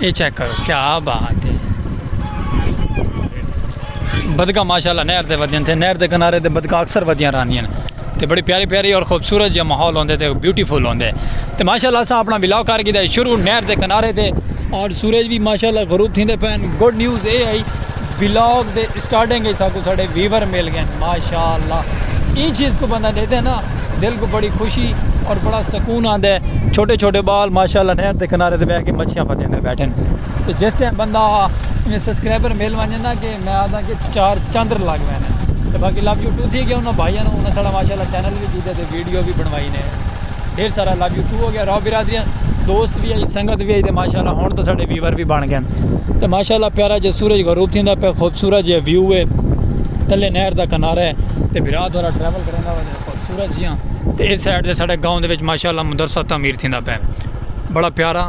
اے check کرو کیا بات ہے بدکا ماشاءاللہ نہر دے ودیاں تھے نہر دے کنارے دے بدکا اکثر ودیاں رہنیاں تے بڑی پیاری پیاری اور خوبصورت جہاں ماحول ہوندے تے بیوٹیفل ہوندے تے ماشاءاللہ اسا اپنا ولاگ کر گیدا شروع نہر دے کنارے تے اور سورج بھی ماشاءاللہ غروب تھیندے پین گڈ نیوز اے آئی ولاگ دے اسٹارٹنگ اچ ساکوں ساڈے ویور مل گئن ماشاءاللہ ایں چیز کوں بندہ ڈیکھدے نا دل کوں بڑی خوشی اور بڑا سکون آندے چھوٹے چھوٹے بال ماشاءاللہ نہر دے کنارے تے بیٹھ کے مچھیاں پھدے ہوندے بیٹھن تے جس ٹائم بندہ ایویں سبسکرائبر مل ونجن نا کہ میں آکھداں کہ چار چندر لگ ویندن تے باقی لو یو ٹو تھی گیا انہاں بھائیاں نوں انہاں ساڈا ماشاءاللہ چینل وی کیتے تے ویڈیو وی بنوائی نے۔ ڈھیر سارا لو یو ٹو ہو گیا راؤ برادری دوست وی آئی سنگت وی آئی تے ماشاءاللہ ہن تو ساڈے ویور وی بن گئے تے ماشاءاللہ پیارا جے سورج غروب تھیندا پے خوبصورت جے ویو ہے تلے نہر دا کنارہ ہے تے بھرا تھوڑا ٹریول کرندا ہوے خوبصورت جیاں تے اس سائیڈ تے ساڈے گاؤں دے وچ ماشاءاللہ مدرسہ تعمیر تھیندا پے بڑا پیارا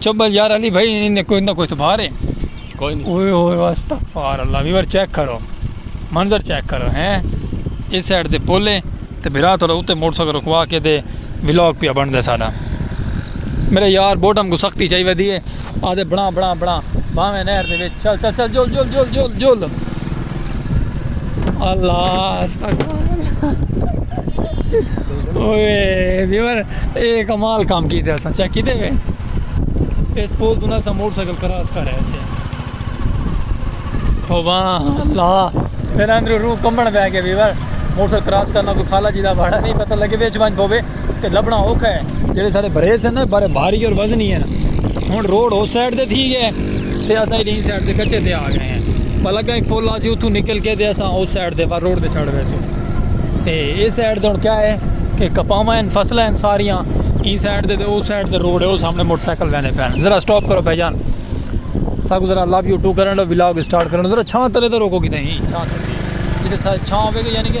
چبل یار علی بھائی نے کوئی نہ کوئی تو بھارے کوئی نہیں اوئے ہوئے استغفار اللہ ویور چیک کرو منظر چیک کرو ہیں اس سائیڈ دے پولے تے بھرا تھوڑا اوتے موٹر سائیکل رکوا کے دے ولاگ پیا بن دے ساڈا میرے یار بوٹم کو سختی چاہیے ودی ہے آدھے بنا بنا بنا باویں نہر دے وچ چل چل چل جول جول جول جول جول اللہ اوئے ویور اے کمال کام کیتے اساں چیک کیتے وے اس پول تو نہ سا موٹر سائیکل کراس کر رہے سے خوبا اللہ میرا اندر روح کمبن بہ گیا ویور موٹر سائیکل کراس کرنا کوئی خالہ جی دا بھاڑا نہیں پتہ لگے وچ ونج بوے تے لبنا اوکھا ہے جڑے سارے بھرے سن نا بارے بھاری اور وزنی ہے ہن روڈ اس سائیڈ تے تھی گئے تے اسا ہی سائیڈ تے کچے تے آ گئے ہیں پلا گئے پل آسی اتھوں نکل کے تے اسا اس سائیڈ تے روڈ تے چڑھ ویسو تے اس سائیڈ تے ہن کیا ہے کہ کپاواں ہیں فصلہ ہیں ساریاں ای سائیڈ تے تے اس سائیڈ تے روڈ ہے او سامنے موٹر سائیکل وینے پین ذرا سٹاپ کرو بھائی جان ساکو ذرا لو یو ٹو کرن لو ولاگ سٹارٹ کرن ذرا چھاں تلے تے روکو کیتے ہی چھاں تلے جیتے چھاں ہوے گی یعنی کہ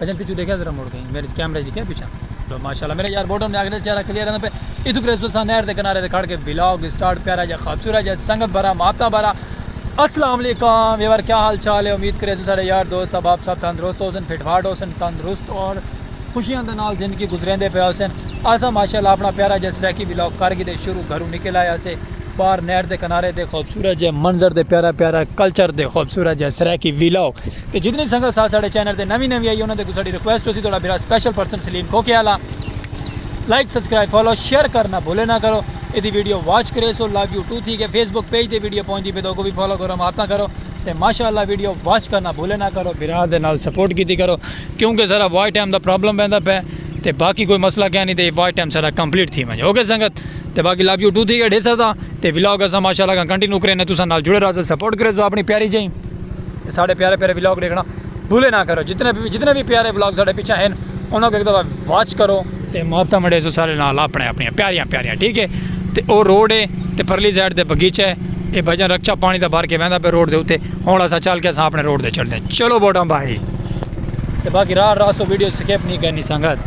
اجل پچھو ڈیکھیا ذرا مڑ گئیں میرے کیمرے وچ ڈیکھیا پچھا۔ ہلو ماشاءاللہ میرے یار بوڈم نے اگلے چہرہ کلیئر آندا پے اتھوں پھر اسو ساں نہر دے کنارے تے کھڑ کے ولاگ سٹارٹ پیارا جا خابسورہ جا سنگت بھرا محبتاں بھرا السلام علیکم ویور کیا حال چال ہے امید کریسو ساڈے یار دوست احباب سب تندرست ہوسن فٹ فاٹ ہوسن تندرست اور خوشیاں دے نال زندگی گزریندے پے ہوسن اساں ماشاءاللہ اپنا پیارا جا سرائیکی ولاگ کر گھدے شروع گھروں نکل آئے اسے باہر نہر دے کنارے دے خوبصورت جے منظر دے پیارا پیارا کلچر دے خوبصورت جا سرائیکی ولاگ۔ تے جتنی سنگت سا ساڈے چینل تے نوی نوی آئی انہاں دے اگوں ساڈی ریکویسٹ ہوسی تہاڈا بھرا سپیشل پرسن سلیم کھوکھے آلا لائک سبسکرائب فالو شیئر کرنا بھولے نہ کرو ایدی ویڈیو واچ کریسو لو یو ٹو تھی گئے فیس بک پیج تے ویڈیو پہنچ دی پے تے اوکوں وی فالو کرو محبتاں کرو تے ماشاء اللہ ویڈیو واچ کرنا بھولے نہ کرو بھرا دے نال سپورٹ کیتی کرو کیونکہ ساڈا واچ ٹائم دا پرابلم ویندا پے تے باقی کوئی مسئلہ کیا نی تے واچ ٹائم ساڈا کمپلیٹ تھی ونجے اوکے سنگت تے باقی لو یو ٹو تھی گئے ڈیسا دا تے ولاگ اساں ماشاء اللہ کنٹینیو کرینے تساں نال جڑے رہسا سپورٹ کریسو اپنی پیاری جئیں۔ تے ساڈے پیارے پیارے ولاگ ڈیکھنا بھولے نہ کرو جتنے بھی جتنے بھی پیارے ولاگ ساڈے پیچھے ہیں انہاں کو ایک دفعہ واچ کرو تے محبتاں مڑے سو سارے نال اپنے اپنی پیاریاں پیاریاں ٹھیک ہے تے او روڈ ہے تے پرلی سائیڈ دے بغیچہ ہے اے بھجن رکچا پانی دا بھر کے ویندا پہ روڈ دے اوتے ہن اسا چل کے اسا اپنے روڈ دے چڑھدے چلو بوٹاں بھائی تے باقی راہ راہ سو ویڈیو سکپ نہیں کرنی سنگت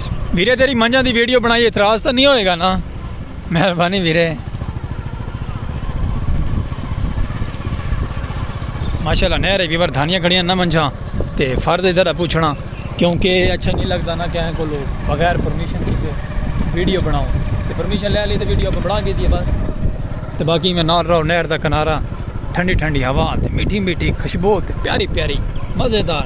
ویرے تیری منجاں دی ویڈیو بنائی اعتراض تاں نہیں ہوئے گا نا مہربانی ویرے ماشاءاللہ نہر ہے ویور دھانیاں کھڑیاں نہ منجاں تے فرد ادھر ہے پوچھنا کیونکہ اچھا نہیں لگتا نا کہیں کو لوگ بغیر پرمیشن کی ویڈیو بناؤں تے پرمیشن لے لی تے ویڈیو بنا کے دیے بس تے باقی میں نال رہو نہر دا کنارہ ٹھنڈی ٹھنڈی ہوا تے میٹھی میٹھی خوشبو تے پیاری پیاری مزیدار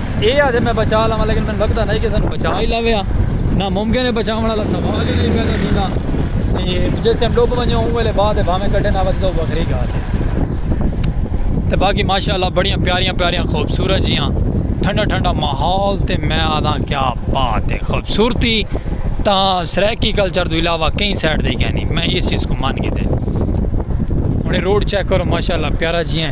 اے آ تے میں بچا لواں لیکن میں لگدا نہیں کہ سانو بچا ہی لوے ہاں نہ ممکن ہے بچاون والا سوال ہی نہیں پیدا تھیندا تے جس ٹائم ڈوب ونجے اون ویلے بعد بھاویں کڈے نہ ودے تو وکھری گال ہے تے باقی ماشاءاللہ بڑیاں پیاریاں پیاریاں خوبصورت جیاں ٹھنڈا ٹھنڈا ماحول تے میں آدھا کیا بات ہے خوبصورتی تا سرائیکی کلچر تو علاوہ کہیں سائڈ دے گیا نہیں میں اس چیز کو مان گئے ہوں روڈ چیک کرو ماشاءاللہ پیارا جیاں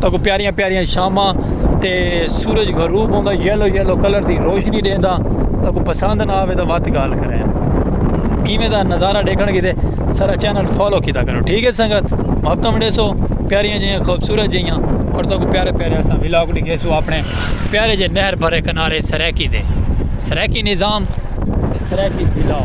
تاں کو پیاریاں پیاریاں شاماں تے سورج غروب ہوندا یلو یلو کلر دی روشنی دیندا تاں کو پسند نہ آوے تاں وات گال کرے ایویں دا نظارہ دیکھن کیتے سارا چینل فالو کیتا کرو ٹھیک ہے سنگت محبت منڈے سو پیاریاں جیاں خوبصورت جیاں اور تاں کو پیارے پیارے اساں ولاگ ڈگے سو اپنے پیارے جے نہر بھرے کنارے سریکی دے سریکی نظام سریکی بلاو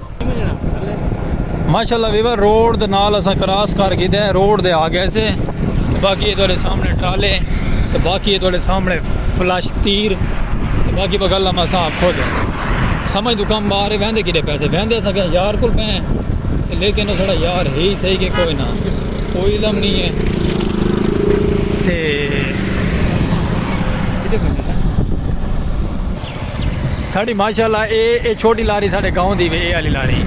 ماشاءاللہ ویور روڈ دے نال اساں کراس کر گئے ہیں روڈ دے آ گئے سے باقی یہ تھوڑے سامنے ٹرالے تو باقی یہ تھوڑے سامنے فلش تیر تو باقی بغل ہم اساں خود سمجھ تو کم بارے ویندے کیڑے پیسے ویندے اساں کہ یار کل پہ ہیں لیکن وہ تھوڑا یار ہے ہی صحیح کہ کوئی نہ کوئی علم نہیں ہے تے ساڑی ماشاءاللہ اے اے چھوٹی لاری ساڑے گاؤں دی وے اے علی لاری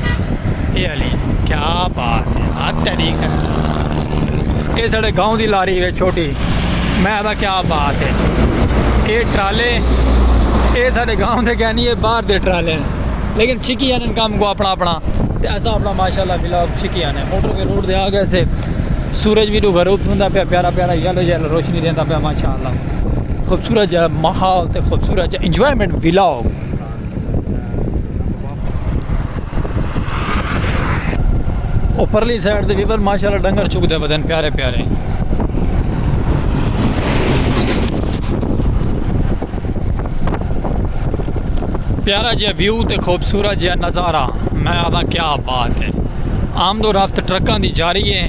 اے علی کیا بات ہے ہاں تیری کر اے ساڑے گاؤں دی لاری وے چھوٹی میں آدھا کیا بات ہے اے ٹرالے اے ساڑے گاؤں دے گئے نہیں اے باہر دے ٹرالے ہیں لیکن چھکی آنے کام کو اپنا اپنا تے ایسا اپنا ماشاءاللہ بلاگ چھکی آنے موٹر کے روڈ دے آگے سے سورج بھی دو گھر اپنا پیا پیارا پیارا یلو یلو روشنی دینا پیا ماشاءاللہ خوبصورت جا ماحول تے خوبصورت جا انجوائمنٹ ویلا ہو گیا اوپرلی سائیڈ دے ویور ماشاءاللہ ڈنگر چک دے بدن پیارے پیارے پیارا جا ویو تے خوبصورت جا نظارہ میں آدھا کیا بات ہے آمد و رفت ٹرکاں دی جاری ہے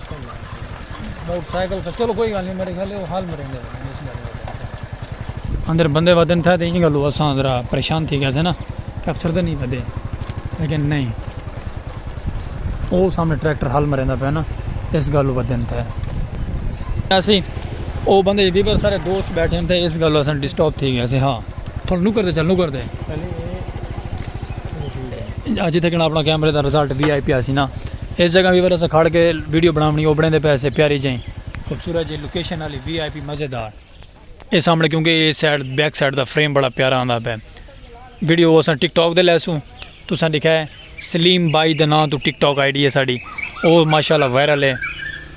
اندر بندے ودن تھا تے ایں گلو اساں ذرا پریشان تھی گئے تھے نا کہ افسر دے نہیں ودے لیکن نہیں او سامنے ٹریکٹر حل مریندا پیا نا اس گلو ودن تھے ایسی او بندے جدی پر سارے دوست بیٹھے ہیں تے اس گلو اساں ڈسٹاپ تھی گئے تھے ہاں تھوڑا نکر دے چل نکر دے اج اتھے کنا اپنا کیمرے دا رزلٹ وی آئی پیا سی نا اس جگہ وی اسا کھڑ کے ویڈیو بناونی اوبنے دے پیسے پیاری جائیں خوبصورت جی لوکیشن والی وی آئی پی مزیدار اے سامنے کیونکہ اے سائیڈ بیک سائیڈ دا فریم بڑا پیارا آندا پے ویڈیو اسا ٹک ٹاک دے لیسوں تساں دکھائے سلیم بائی دے نام تو ٹک ٹاک آئی ڈی ہے ساڈی او ماشاءاللہ وائرل ہے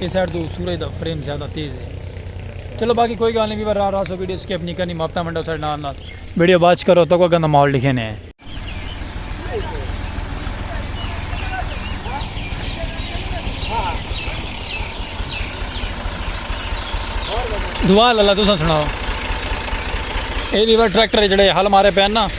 اس سائڈ تو سورج دا فریم زیادہ تیز ہے چلو باقی کوئی گال نہیں بھی راہ راہ سو ویڈیو سکیپ نہیں کرنی ماپتا منڈا سارے نال نال ویڈیو واچ کرو تو کوئی گندہ ماحول لکھے نے دعا اللہ تسا سناؤ اے بھی ٹریکٹر جڑے حل مارے پہن نا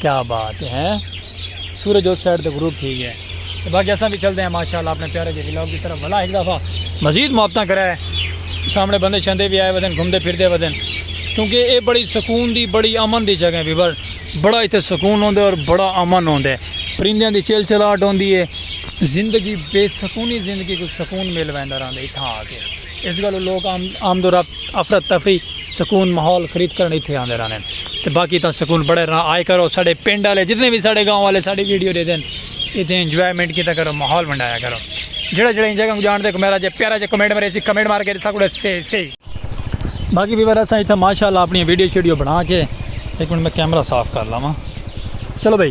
کیا بات ہے سورج اس سائیڈ تے غروب تھی گیا ہے باقی اساں بھی چلتے ہیں ماشاءاللہ اپنے پیارے جی ولاگ کی طرف بھلا ایک دفعہ مزید محبتاں کرا ہے سامنے بندے شندے بھی آئے ودن گھومتے پھرتے ودن کیونکہ اے بڑی سکون دی بڑی امن دی جگہ بھی بر بڑا ایتھے سکون ہوندے اور بڑا امن ہوندے پرندیاں دی چیل چلاٹ ہوندی ہے زندگی بے سکونی زندگی کو سکون مل ویندا رہندے اتھاں آ کے اس گالوں لوک آمد و رفت افرت تفری سکون ماحول خرید کرن ایتھے آندے رہنے تے باقی تاں سکون بڑے رہا آئے کرو ساڑے پنڈ والے جتنے بھی ساڑے گاؤں والے ساڑی ویڈیو دے دین ایتھے انجوائمنٹ کیتا کرو ماحول ونڈایا کرو جڑا جڑا ان جگہ کو جان دے کو میرا جے پیارا جے کمنٹ مرے سی کمنٹ مار کے ساکو سے سی باقی بھی ورہ سا ایتھے ماشاءاللہ اپنی ویڈیو شیڈیو بنا کے ایک منٹ میں کیمرہ صاف کر لاواں چلو بھائی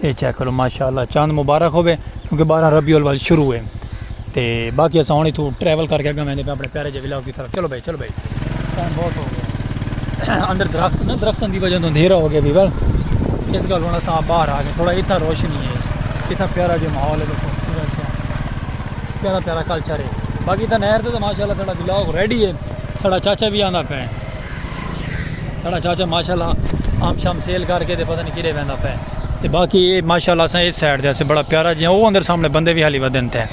اے چیک کرو ماشاءاللہ چاند مبارک ہوے کیونکہ بارہ ربیع الاول شروع ہے تے باقی اساں ہن ایتھوں ٹریول کر کے اگے ویندے پے اپنے پیارے جے ولاگ دی طرف چلو بھائی چلو بھائی ٹائم بہت ہو گیا اندر درخت نا درختاں دی وجہ تو اندھیرا ہو گیا بھی بل اس گل ہن اساں باہر آ گئے تھوڑا ایتھا روشنی ہے ایتھا پیارا جے ماحول ہے دیکھو پیارا پیارا کلچر ہے باقی تھا نہر تے ماشاءاللہ تھوڑا ولاگ ریڈی ہے تھوڑا چاچا بھی آندا پے ساڑا چاچا ماشاءاللہ آم شام سیل کر کے دے پتہ نہیں کیڑے ویندہ پہ تے باقی یہ ماشاءاللہ اساں اس سائیڈ دے اسے بڑا پیارا جیاں وہ اندر سامنے بندے بھی حالی ودن تھے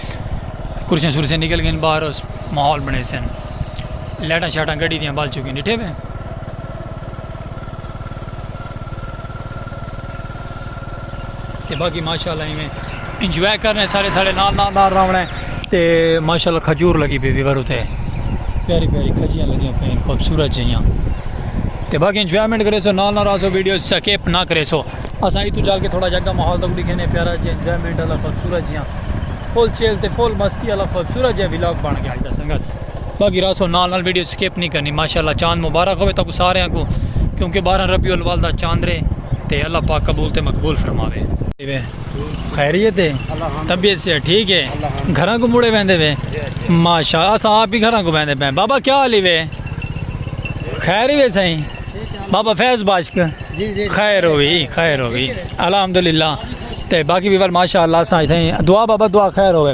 کرسیاں شرسیاں نکل گئیں باہر اس ماحول بنے سن لیٹاں شاٹاں گڑی دیاں بال چکیں ڈٹھے بے تے باقی ماشاءاللہ ایویں انجوائے کرنے سارے سارے نال نال نال راونا ہے تے ماشاءاللہ کھجور لگی پی ویور تے پیاری پیاری کھجیاں لگیاں پین خوبصورت جیاں تے باقی انجوائمنٹ کرے سو نال نال راسو ویڈیو سکیپ نہ کرے سو اساں ایتھوں جا کے تھوڑا جگہ ماحول تک دکھینے پیارا جی انجوائمنٹ والا خوبصورت جیاں فل چیل تے فل مستی والا خوبصورت جیاں ولاگ بن گیا اج دا سنگت باقی راسو نال نال ویڈیو سکپ نہیں کرنی ماشاءاللہ چاند مبارک ہوئے تاکو ساریاں کو کیونکہ بارہ ربیع الاول دا چاندرے تے اللہ پاک قبول تے مقبول فرماوے خیریت ہے طبیعت سے ٹھیک ہے گھراں کو مڑے ویندے وے ماشاء اسا آپ ہی گھراں کو ویندے پے بابا کیا حال ہے خیر ہی سائیں بابا فیض باشک جی، جی۔ خیر ہوئی خیر ہوئی الحمدللہ تے باقی بھی ماشاءاللہ سائیں دعا بابا دعا خیر ہوئے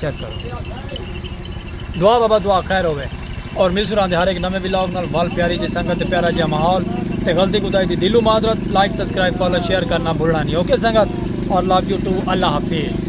چیک کرو دعا بابا دعا خیر ہوئے اور مل سران دے ہر ایک نمے ولاگ نال وال پیاری جی سنگت تے پیارا جی ماحول تے غلطی کوتاہی دی دلو معذرت لائک سبسکرائب فالو شیئر کرنا بھولنا نہیں اوکے سنگت اور لو یو ٹو اللہ حافظ